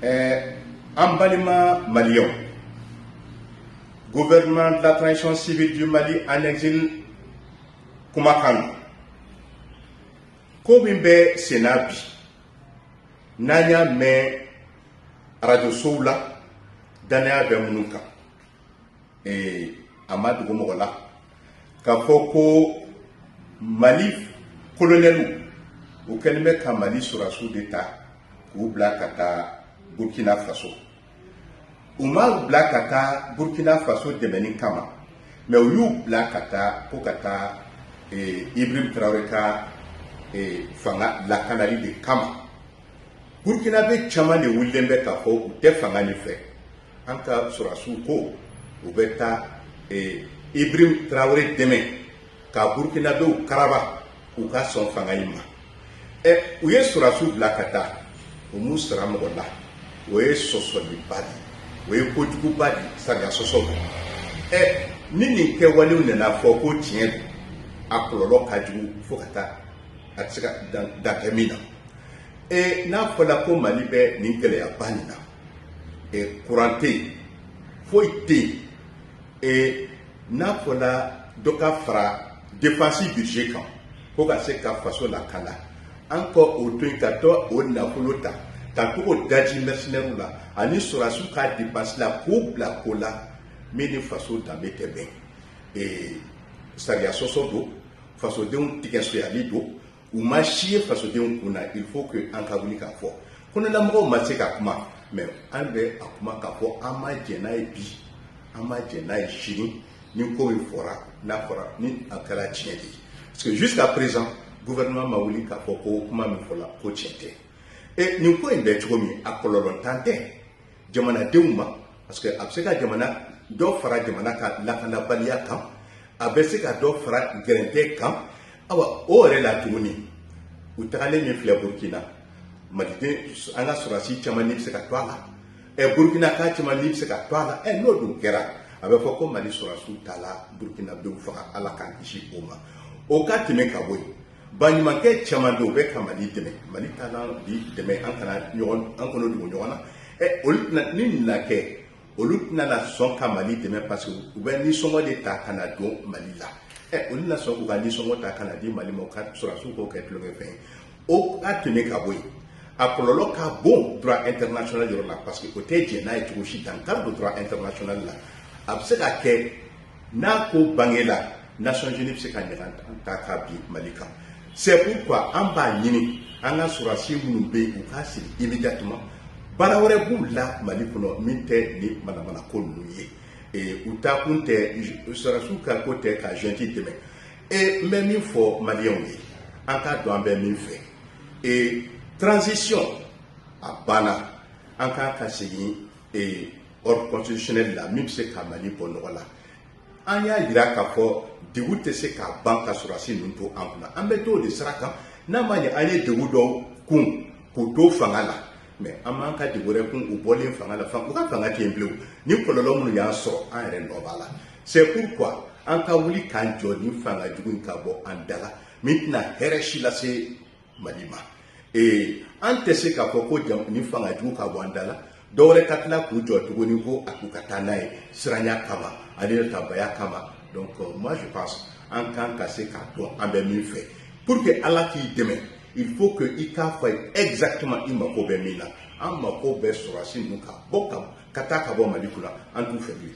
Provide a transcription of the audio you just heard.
ɛɛ an balima maliyɛnw gouvernement de la transition civile du mali en exil kumakan don ko min bɛ sen na bi n'an y'a mɛn arajosow la dannaya bɛ minnu kan ee a ma dogo mɔgɔ la k'a fɔ ko mali kolonɛliw u kɛlen bɛ ka mali sɔrɔdasiw de ta k'u bila ka taa burkina faso u m'u bila ka taa burkina faso dɛmɛni kama mɛ u y'u bila ka taa ko ka taa eh, ibrahim tarawele ka eh, fanga lakanali de kama burkinabe caman de wulilen bɛ k'a fɔ u tɛ fanga nin fɛ an ka sɔrɔdasiw ko u bɛ taa Ibrahim Tarawele dɛmɛ ka Burukinabew karaba k'u ka sɔn fanga in ma ɛ u ye sɔrɔdasiw bila ka taa u m'u sara mɔgɔ la o ye sɔsɔliba de ye o ye kojuguba de ye sariya sɔsɔ don ɛ ni nin kɛwalew nana fɔ ko tiɲɛ don a kɔlɔlɔ ka jugu fo ka taa a tɛ se ka dan tɛ min na n'a fɔla ko Mali bɛ nin gɛlɛyaba nin na kuran tɛ yen foyi tɛ yen n'a fɔla dɔ ka fara defansi budget kan ko ka se ka faso lakanda an ka o to yen ka t'o nafolo ta ka to o daji mercenaires la ani sɔrɔdasiw ka depansi la k'u bila ko la min ni faso danbe tɛ bɛn sariya sɔsɔ don fasodenw tigɛ sonyali don u ma si ye fasodenw kun na il faut que an ka wuli k'a fɔ kɔnɔlamɔgɔw ma se ka kuma mɛ an bɛ a kuma k'a fɔ an ma jɛn n'a ye bi an ma jɛn n'a ye sini ni ko min fɔra n'a fɔra ni a kɛra tiɲɛ de ye parce que jusqu'à présent gouvernement ma wuli k'a fɔ ko kuma min fɔla ko tiɲɛ tɛ e nin ko in bɛ cogo min a kɔlɔlɔntan tɛ jamanadenw ma parce que a bɛ se ka jamana dɔ fara jamana ka lakanabaliya kan a bɛ se ka dɔ fara gɛrɛntɛ kan awa o yɛrɛ la tuguni u tagalen min filɛ burukina maliden an ka sɔrɔdasi caman ni bɛ se ka to a la ɛ burukina ka caman ni bɛ se ka to a la ɛ n'o dun kɛra a bɛ fɔ ko mali sɔrɔdasiw taala burukinadenw faga ala k'an kisi o ma o ka tɛmɛ ka bɔ yen baɲumankɛ caman bɛ yen u bɛ ka mali dɛmɛ mali ka kan bi dɛmɛ an kana ɲɔgɔn an kɔnɔ dogo ɲɔgɔn na ɛ olu tɛna ni nin na kɛ olu tɛna na sɔn ka mali dɛmɛ parce que u bɛ nisɔngɔ de ta ka na don mali la ɛ olu na sɔn k'u ka nisɔngɔ ta ka na di mali ma u ka sɔrɔdasiw k'o kɛ tulonkɛ fɛn ye o ka tɛmɛ ka bɔ yen a kɔlɔlɔ ka bon droit international yɔrɔ la parce que o tɛ jɛn n'a ye cogo si dankari don droit international la a bɛ se ka kɛ n'a ko bangela Nations Unies bɛ se ka ɲangata ka bin Mali kan c'est pourquoi an b'a ɲini an ka sɔrɔdasi minnu bɛ yen u ka segin immédiatement baara wɛrɛ b'u la Mali kɔnɔ min tɛ nin manamana ko ninnu ye ee u taakun tɛ sɔrɔdasiw ka ko tɛ ka junte dɛmɛ ee n bɛ min fɔ maliyɛnw ye an k'a dɔn an bɛ min fɛ ee transition a banna an kan ka segin ee ordre constitutionnel la min bɛ se ka Mali bɔ nɔgɔ la an y'a jira k'a fɔ degun tɛ se ka ban ka sɔrɔdasi ninnu to an kunna an bɛ t'o de sira kan n'a ma ɲɛ an ye degun dɔw kun k'u to fanga la mais an man kan ka degun wɛrɛ kun u bɔlen fanga la u ka fanga tɛ yen bilen nin kɔlɔlɔ minnu y'an sɔrɔ an yɛrɛ nɔ b'a la c'est pourquoi an ka wuli k'an jɔ nin fanga jugu in ka bɔ an da la min tɛna hɛrɛ si lase mali ma ee an tɛ se k'a fɔ ko nin fanga jugu ka bɔ an da la dɔ wɛrɛ ka tila k'u jɔ tuguni ko a t'u ka taa n'a ye siranya kama ani natabaya kama donc euh, moi je pense an kan ka se k'a dɔn an bɛ min fɛ pour que ala k'i dɛmɛ il faut que i k'a fɔ a ye exactement i mako bɛ min na an mako bɛ sɔrɔdasi ninnu ka bɔ ka ka taa ka bɔ mali kunna an t'u fɛ bilen